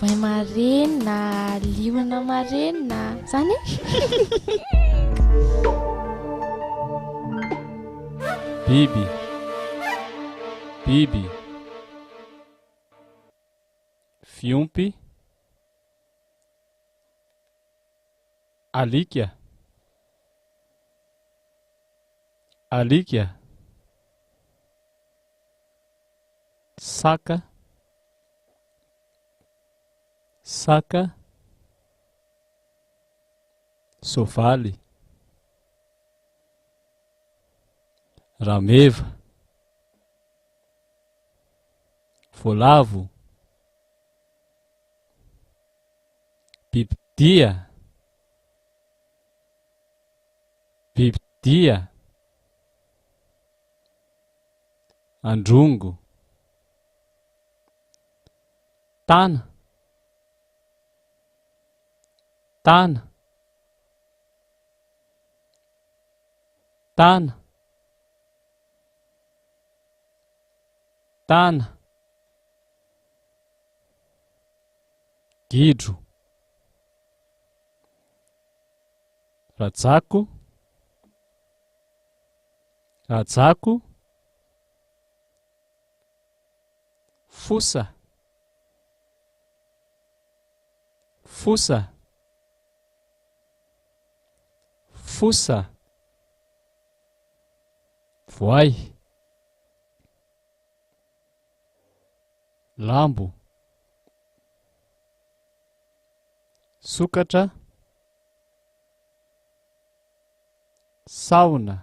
Voay marenina, liona marenina, zany Bibi. Bibi. Fiompy. Alika. Alika. Saka. Saka, soavaly, rameva, voalavo, bibidia, bibidia, androngo. Tana Tana Tana Tana Gidro Rajako Rajako Fosa Fosa Fosa Voay Lambo Sokatra Sahona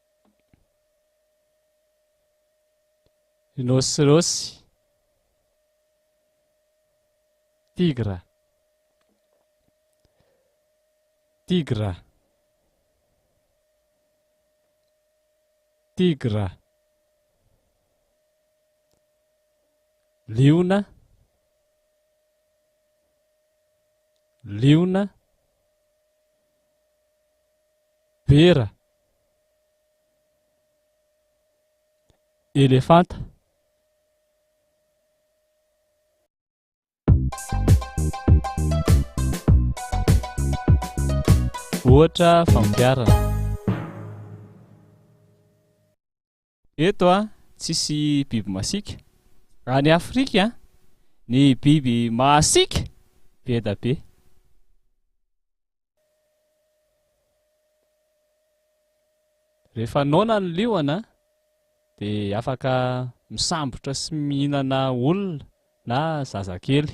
Rhinocéros, Tigre, Tigre, Tigre, Liona, Liona, Bera. elefanta. Ohatra fampiharana. Eto a, tsisy biby masiaka. Raha any Afrika a, ny biby mahasiaka be da be. Rehefa noana ny liona a, de afaka misambotra sy mihinana olona na zazakely.